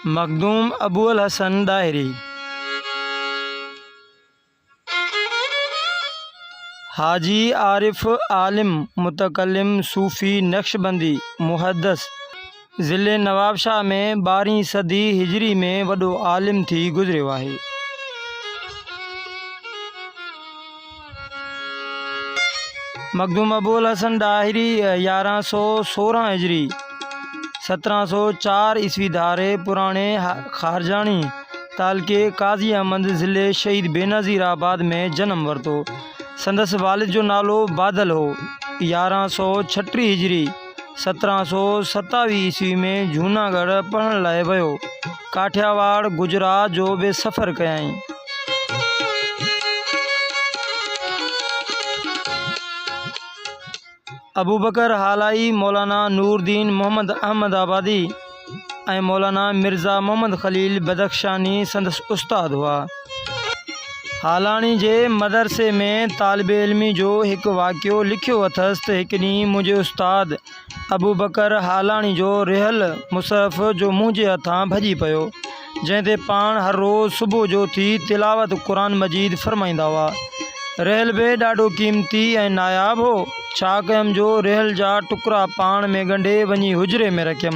مخدوم ابوالحسن ڏاهري، حاجي عارف عالم متڪلم صوفي نقشبندي محدث ضلعي نوابشاهه ۾ ٻارهين صدي هجري ۾ وڏو عالم ٿي گذريو آهي. مخدوم ابوالحسن ڏاهري يارهن سؤ سورهن هجري، سترهن سؤ چار عيسوي ڌاري پراڻي خارجاڻي تعلقي قاضي احمد ضلعي شهيد بينظير آباد ۾ جنم ورتو. سندس والد جو نالو بادل هو. يارهن سؤ ڇٽيهه هجري. سترهن سؤ ستاويهه عيسوي ۾ جهوناڳڙهه پڙهڻ لاء ويو. ڪاٺياواڙ، گجرات جو به سفر ڪيائين. ابوبڪر هالائي، مولانا نور الدين محمد احمد آبادي، ۽ مولانا مرزا محمد خليل بدخشاني سندس استاد هئا. هالاڻي جي مدرسي ۾ طالب علمي جو هڪ واقعو لکيو اٿس ته هڪ ڏينهن منهنجي استاد ابوبڪر هالاڻي جو رهيل مصحف جو منهنجي هٿان ڀڄي پيو. جنهن تي پاڻ هر روز صبح جو اٿي تلاوت قرآن مجيد فرمائيندا هئا. رحل به ڏاڍو قيمتي ۽ ناياب هو. ڇا ڪيم جو رحل جا ٽڪرا پاڻ ۾ ڳنڍي وڃي حجري ۾ رکيم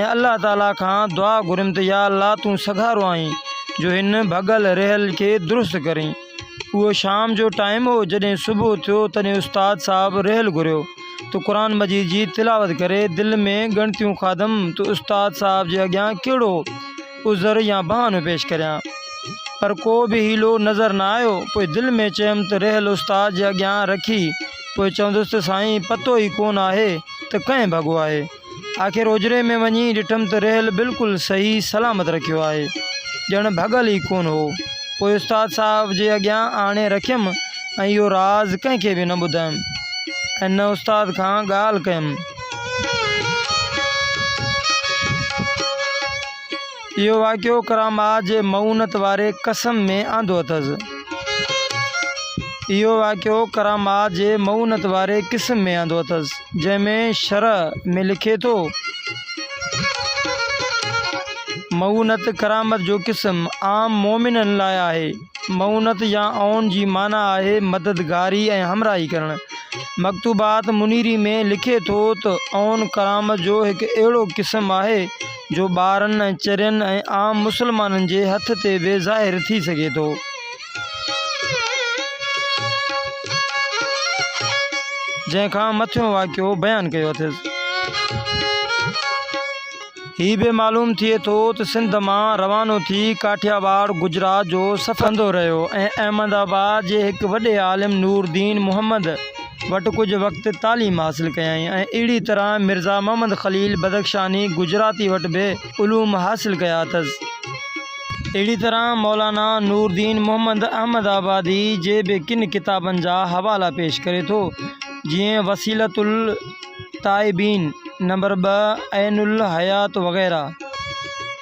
۽ الله تعاليٰ کان دعا گهريم ته يا الله تون سگهارو آهين جو هن ڀڳل رحل کي درست ڪرين. اهو شام جو ٽائيم هو جڏهن صبح ٿيو تڏهن استاد صاحب رحل گهريو. تو قرآن مجيد جي تلاوت ڪري دل ۾ ڳڻتيون کاڌم تو استاد صاحب جي اڳيان ڪهڙو عذر يا بهانو پيش ڪريان پر ڪو به حيلو نظر نه آيو پوء دل ۾ چيم ته رهيل استاد جي اڳيان رکي پوء چوندس ته سائين پتو ئي ڪونه آهي ته ڪنهن ڀڳو آهي. آخر اجري ۾ وڃي ڏٺم ته ريل بلڪل صحيح سلامت رکيو آهي، ڄڻ ڀڳل ئي ڪونه هو. پوء استاد صاحب جي اڳيان آڻي رکيم ۽ اهو راز ڪنهن کي به نه ٻڌايم ۽ نه استاد کان ڳالهه ڪيم. اهو واقعو ڪراماء جي مئونت واري قسم ۾ آندو اٿس. اهو واقعو ڪراماء جي مئونت واري قسم ۾ آندو اٿس، جنهن ۾ شرح ۾ لکي ٿو، مئونت ڪرامت جو قسم عام مؤمنن لاء آهي. مئونت يا عون جي معنيٰ آهي مددگاري ۽ همراهي ڪرڻ. مڪتوبات منيري ۾ لکي ٿو ته عون ڪرامت جو هڪ اهڙو قسم آهي، جو ٻارن ۽ چرين ۽ عام مسلمانن جي هٿ تي به ظاهر ٿي سگهي ٿو. جنهن کان مٿيون واقعو بيان ڪيو اٿس. هي به معلوم ٿئي ٿو ته سنڌ مان روانو ٿي ڪاٺياواڙ، گجرات، جو سفر ڪندو رهيو ۽ احمد آباد جي هڪ وڏي عالم نور الدين محمد، وٽ ڪجهه وقت تعليم حاصل ڪيائين ۽ اهڙي طرح مرزا محمد خليل بدخشاني گجراتي وٽ به علوم حاصل ڪيا اٿس. اهڙي طرح مولانا نوردين محمد احمد آبادي جي به ڪن ڪتابن جا حوالا پيش ڪري ٿو، جيئن وسيلة التائبين نمبر ٻه، عين الحيات وغيره.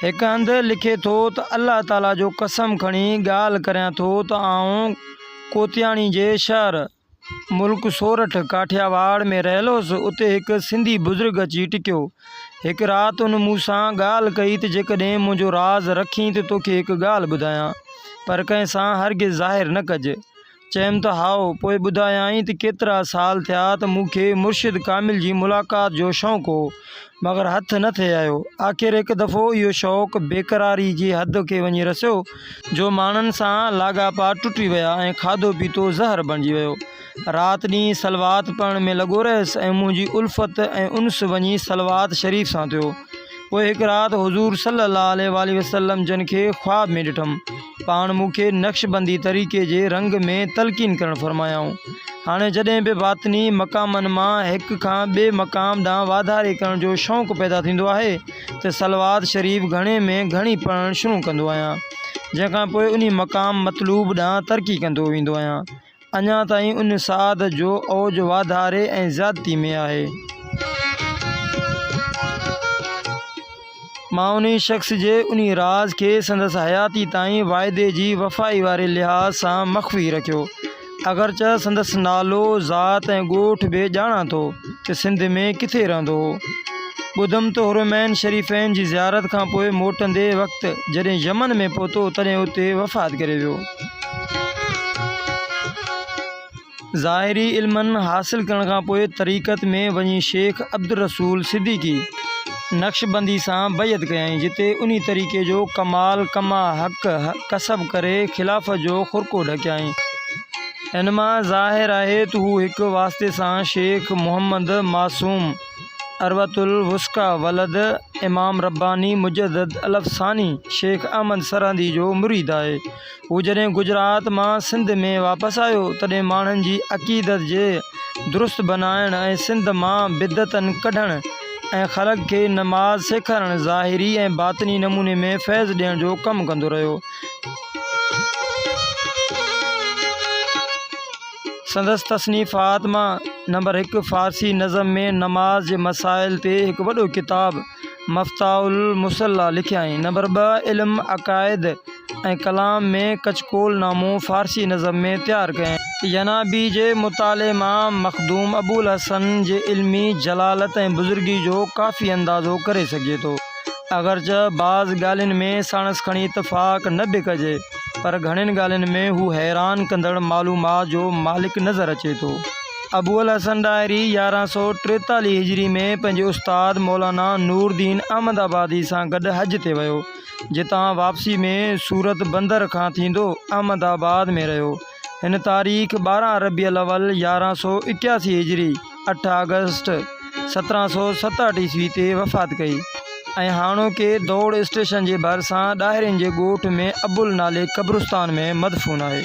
هڪ هنڌ لکي ٿو ته الله تعاليٰ جو قسم کڻي ڳالهه ڪريان ٿو ته آئون ڪوتياڻي جي شهر، ملڪ سورٺ، ڪاٺياواڙ، ۾ رهيل هوس، اتي هڪ سنڌي بزرگ اچي ٽڪيو. هڪ رات ان مون سان ڳالهه ڪئي ته جيڪڏهن منهنجو راز رکين ته توکي هڪ ڳالهه ٻڌايان، پر ڪنهن سان هرگز ظاهر نه ڪج. چيم ته هائو، پوء ٻڌايائين ته ڪيترا سال ٿيا ته مون کي مرشد ڪامل جي ملاقات جو شوق هو. مگر هٿ نه ٿي آيو. آخر هڪ دفعو اهو شوق بيقراري جي حد کي وڃي رسيو جو ماڻهن سان لاڳاپا ٽٽي ويا ۽ کاڌو پيتو زهر بڻجي ويو. رات ڏينهن صلوات پڙهڻ ۾ لڳو رهيس ۽ منهنجي الفت ۽ انس وڃي صلوات شريف سان ٿيو. پوء هڪ رات حضور صلي الله عليه واٰله وسلم جن کي خواب ۾ ڏٺم. پاڻ مون کي نقشبندي طريقي جي رنگ ۾ تلقين ڪرڻ فرمايائون. هاڻي جڏهن به باطني مقامن مان هڪ کان ٻئي مقام ڏانهن واڌاري ڪرڻ جو شوق پيدا ٿيندو آهي ته صلوات شريف گهڻي ۾ گهڻي پڙهڻ شروع ڪندو آهيان، جنهن کان پوء انهي مقام مطلوب ڏانهن ترقي ڪندو ويندو آهيان. اڃا تائين ان ساعد جو اوج واڌاري ۽ زيادتي ۾ آهي. مان انهي شخص جي انهي راز کي سندس حياتي تائين واعدي جي وفائي واري لحاظ سان مخفي رکيو، اگرچه سندس نالو، ذات ۽ ڳوٺ به ڄاڻان ٿو ته سنڌ ۾ ڪٿي رهندو هو. ٻڌم ته حرمين شريفين جي زيارت کانپوء موٽندي وقت جڏهن يمن ۾ پهتو تڏهن اتي وفات ڪري ويو. ظاهري علمن حاصل ڪرڻ کان پوء طريقت ۾ وڃي شيخ عبدالرسول صديقي نقشبندي سان بيعت ڪيائين جتي انهي طريقي جو ڪمال ڪما حق ڪسب ڪري خلافت جو خرقو ڍڪيائين ان مان ظاهر آهي ته هو هڪ واسطي سان شيخ محمد معصوم عروة الوثقيٰ ولد امام رباني مجدد الافساني شيخ احمد سرهندي جو مريد آهي. هو جڏهن گجرات مان سنڌ ۾ واپس آيو تڏهن ماڻهن جي عقيدت جي درست بنائڻ ۽ سنڌ مان بدعتن ڪڍڻ ۽ خلق کي نماز سيکارڻ ظاهري ۽ باطني نموني ۾ فيض ڏيڻ جو ڪم ڪندو رهيو. سندس تصنيفات مان نمبر هڪ فارسي نظم ۾ نماز جي مسائل تي هڪ وڏو ڪتاب مفتاح المصليٰ لکيائين. نمبر ٻه علم عقائد ۽ ڪلام ۾ ڪچڪول نامو فارسي نظم ۾ تيار ڪيائين. ينابيع جي مطالعي مان مخدوم ابوالحسن جي علمي جلالت ۽ بزرگيء جو ڪافي اندازو ڪري سگهجي ٿو. اگرچه بعض ڳالهين ۾ ساڻس کڻي اتفاق نه به ڪجي. پر گهڻين ڳالهين ۾ هو حيران ڪندڙ معلومات جو مالڪ نظر اچي ٿو. ابوالحسن ڏاهري يارهن سؤ ٽيتاليهه هجري ۾ پنهنجي استاد مولانا نوردين احمد آبادي سان گڏ حج تي ويو، جتان واپسي ۾ سورت بندر کان ٿيندو احمد آباد ۾ رهيو. هن تاريخ ٻارهن ربيع الاول يارهن سؤ ايڪياسي هجري اٺ آگسٽ سترهن سؤ ستهٺ عيسوي تي وفات ڪئي ۽ هاڻوڪي دوڙ اسٽيشن جي ڀرسان ڏاهرين جي ڳوٺ ۾ ابل نالي قبرستان ۾ مدفون آهي.